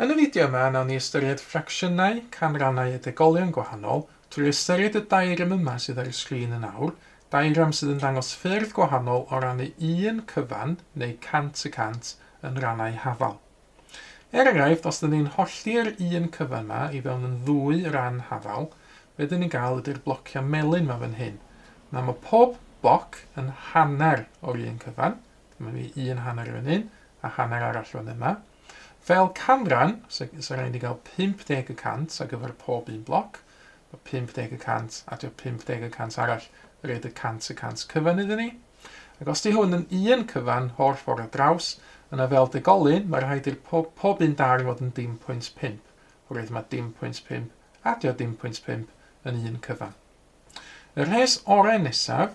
Yn y fideo yma, nawn ni ystyried ffracsiynau canrannau a degolion gwahanol trwy ystyried y diagram yma sydd ar y sgrin yn awr, diagram sydd yn dangos ffyrdd gwahanol o rannu un cyfan, neu cant y cant, yn rannau hafal. Er enghraifft, os ydyn ni'n hollti'r un cyfan 'ma i fewn yn ddwy ran hafal, be ydyn ni'n gael ydy'r blociau melyn 'ma fan hyn. Nawr mae pob boc yn hanner o'r un cyfan, dyma ni un hanner fan hyn a hanner arall fan yma. Fel canran, so, so rhaid i gael 50 y cant ar gyfer pob un bloc, mae 50 y cant a 50 y cant arall yn rhaid y cant y cant cyfan iddyn ni. Ac os 'di hwn yn un cyfan holl ffor' ar draws, yna fel degolyn, ma' rhaid i'r po- pob un darn fod yn dim pwynt pump, oherwydd ma' dim pwynt pump adio dim pwynt pump yn un cyfan. Y rhes ore' nesaf,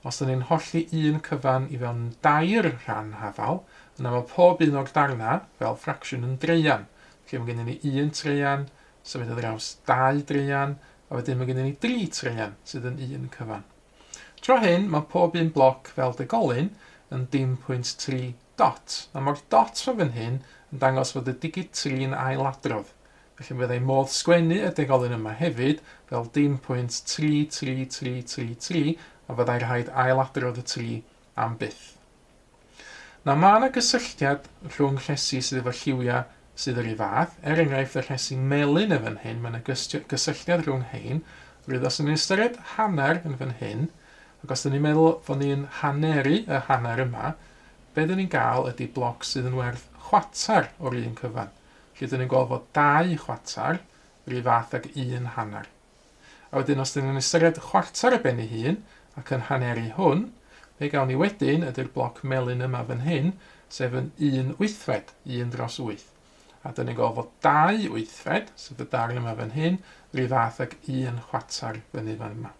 os 'da ni'n hollti un cyfan i fewn yn dair rhan hafal, yna ma' pob un o'r darna', fel ffracsiwn, yn draean. Felly ma' gennyn ni un traean, symud ar draws dau draean, a wedyn ma' gennyn ni dri traean sydd yn un cyfan. Tro hyn mae pob un bloc fel degolyn yn dim pwynt tri dot, a mae'r dot rho fan hyn yn dangos fod y digid tri yn ailadrodd, felly mi fyddai modd sgwennu y degolyn yma hefyd fel dim pwynt tri tri tri tri tri a fyddai rhaid ailadrodd y tri am byth. Na, mae yna gysylltiad rhwng rhesi sydd efo lliwiau sydd yr un fath, er enghraifft y rhesi melyn yn fan hyn, mae yna gysylltiad rhwng rhein, rwydd os ydyn ystyried hanner yn fan hyn, ac os ydyn ni'n meddwl fod ni'n haneru y hanner yma, be dyn ni'n gael ydy bloc sydd yn werth chwatar o'r un cyfan. Felly dyn ni'n gweld fod dau chwatar yr un fath ag un hanner. A wedyn os dyn ni'n ystyried y chwarter ar ben ei hun, ac yn haneri hwn, be gawn ni wedyn ydy'r bloc melyn yma fan hyn, sef yn un wythfed, un dros wyth. A dyn ni'n gweld fod dau wythfed, sef y darn yma fan hyn, rhyw fath ag un chwarter fyny fan yma.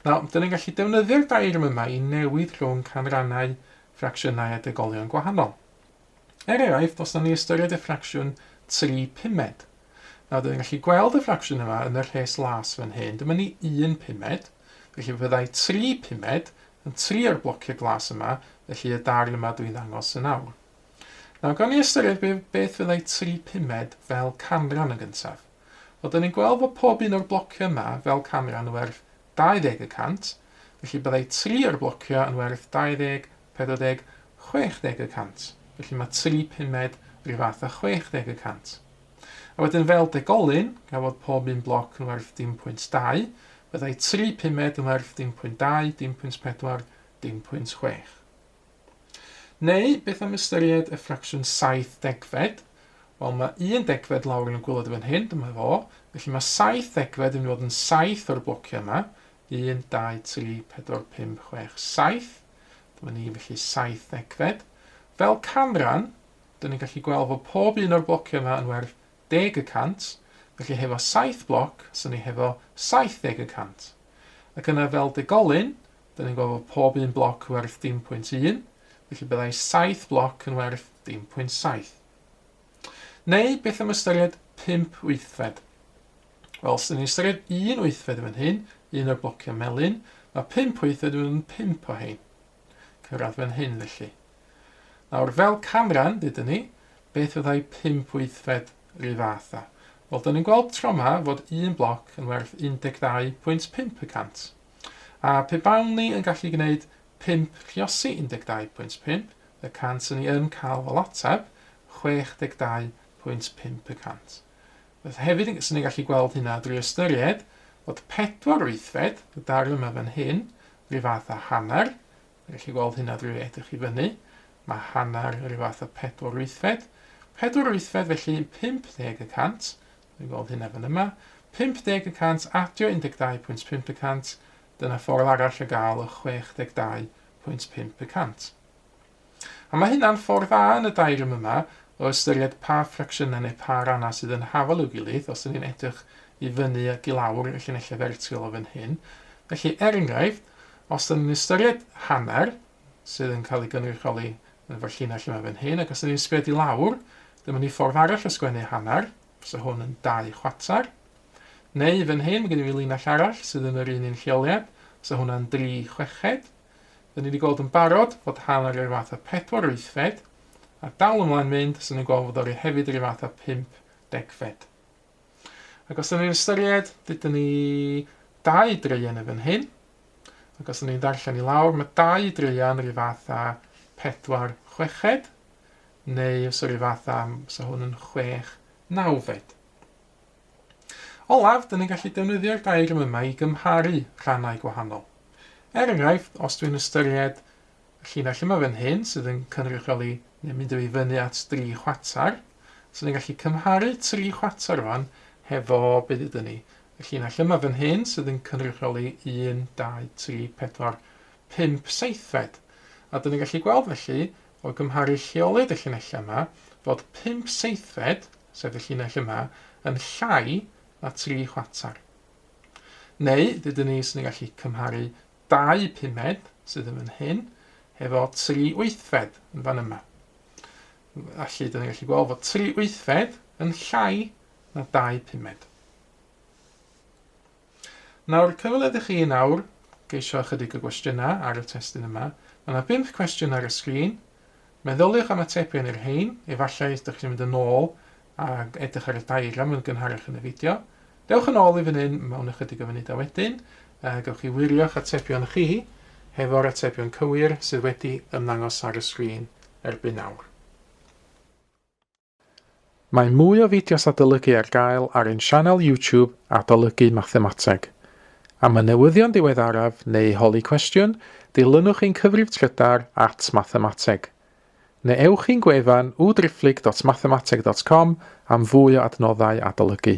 Nawr, dyn ni'n gallu defnyddio'r dairm yma i newid rhwng canrannau, ffracsiynau a degolion gwahanol. Er enghraifft, os nawn ni ystyried y ffracsiwn 3 pumed. Nawr, dyn ni'n gallu gweld y ffracsiwn yma yn y rhes las fan hyn. Dyma ni 1 pumed, felly fe fyddai 3 pumed yn 3 o'r blociau glas yma, felly y darn yma dwi'n ddangos yn awr. Nawr, gawn ni ystyried be, beth fyddai 3 pumed fel canran yn gyntaf. Wel, dyn ni'n gweld bod pob un o'r blociau yma fel canran yn werth 20 y cant, felly byddai 3 o'r blociau yn werth 20 40, 60 y cant. Felly mae tri pumed ryw fath â 60 y cant. A wedyn fel degolyn, gan fod pob un bloc yn werth dim pwynt 2, byddai tri pumed yn werth dim pwynt 2, dim pwynt 4, dim pwynt 6. Neu, beth am ystyried y ffracsiwn 7 degfed? Wel, mae un degfed lawr yn y gwylod fan hyn, dyma fo, felly mae 7 degfed yn mynd i fod yn 7 o'r blociau yma, 1, 2, 3, 4, 5, 6, 7. Dyma ni, felly, saith ddegfed. Fel canran, dyn ni'n gallu gweld fod pob un o'r blociau yma yn werth deg y cant, felly hefo saith bloc, sy'n ni hefo 70 y cant. Ac yna fel degolyn, dyn ni'n gweld fod pob un bloc yn werth dim pwynt un, felly byddai saith bloc yn werth dim pwynt saith. Neu beth am ystyried pump wythfed? Wel, os ydyn ni'n ystyried un wythfed fan hyn, un o'r blociau melyn, mae pump wythfed yn pump o hein. Cyrraedd fan hyn felly. Nawr, fel canran, dydyn ni, beth fyddai pump wythfed rhyw fath a? Wel, dyn ni'n gweld tro yma fod un bloc yn werth 12.5 y cant. A pe bawn ni yn gallu gwneud Pump Rhiosi 12.5 y cant Ry'n ni yn cael fel ateb 62.5 y cant. Felly hefyd yn sy'n ni'n gallu gweld hynna drwy ystyried fod pedwar wythfed y darn yma fan hyn rhyw fath â hanner, ni'n gallu gweld hynna drwy edrych i fyny, mae hanner rhyw fath â pedwar wythfed, pedwar wythfed felly yn 50 y cant, ni'n gweld hynna fan yma, 50 y cant adio 12.5 y cant Dyna ffordd arall o gael y 62.5 y cant. A mae hynna'n ffordd dda yn y daearym yma o ystyried pa ffracsiynau neu pa rannau sydd yn hafal i'w gilydd os 'dyn ni'n edrych i fyny ac i lawr y llinellau fertiwl o fan hyn. Felly, er enghraifft, os 'dyn ni'n ystyried hanner, sydd yn cael ei gynrychioli yn efo'r llinell yma fan hyn, ac os 'dyn ni'n sbio di lawr, dyma ni ffordd arall o sgwennu hanner, Fysa hwn yn dau chwater. Neu fan hyn, mae gen i fi linell arall sydd yn yr un un lleoliad, fysa hwnna yn dri chweched. Dyn ni wedi gweld yn barod fod hanner yr fath a pedwar wythfed, a dal ymlaen mynd, fysa ni'n gweld fod o hefyd yr un fath a pump degfed. Ac os dyn ni'n ystyried, dydyn ni dau dreian yn fan hyn, ac os dyn ni'n darllen i lawr, mae dau dreian yr un fath a pedwar chweched, Neu os yw fatha, so hwn yn chwech nawfed. Olaf, dyn ni'n gallu defnyddio'r diagram yma i gymharu rhannau gwahanol. Er enghraifft, os dwi'n ystyried y llinell yma fan hyn sydd yn cynrychioli neu mynd i fyny at dri chwater, so ni'n gallu cymharu tri chwater fan hefo be ddydyn ni. Y llinell yma fan hyn sydd yn cynrychioli 1, 2, 3, 4, 5 seithfed. A dyn ni'n gallu gweld felly O gymharu lleoled y llinellau yma, fod pump seithfed, sef y llinell yma, yn llai na tri chwarter. Neu, dydyn ni sy'n gallu cymharu dau pumed, sydd yn fan hyn, hefo tri wythfed yn fan yma. Felly, dydyn ni'n gallu gweld fod tri wythfed yn llai na dau pumed. Nawr, cyfle dych chi nawr geisio ychydig o gwestiynau ar y testun yma. Mae yna bump cwestiwn ar y sgrin. Meddyliwch am atebion i'r rhein, efallai dych chi'n mynd yn ôl a edrych ar y diagram yn gynharach yn y fideo. Dewch yn ôl i fan hyn mewn ychydig o funudau wedyn, a gewch chi wirio'ch atebion chi hefo'r atebion cywir sydd wedi ymddangos ar y sgrin erbyn nawr. Mae mwy o fideos adolygu ar gael ar ein sianel YouTube Adolygu Mathemateg. Am y newyddion diweddaraf neu holi cwestiwn, dilynwch ein cyfrif trydar at Mathemateg. Neu ewch i'n gwefan www.driphlyg.mathemateg.com am fwy o adnoddau adolygu.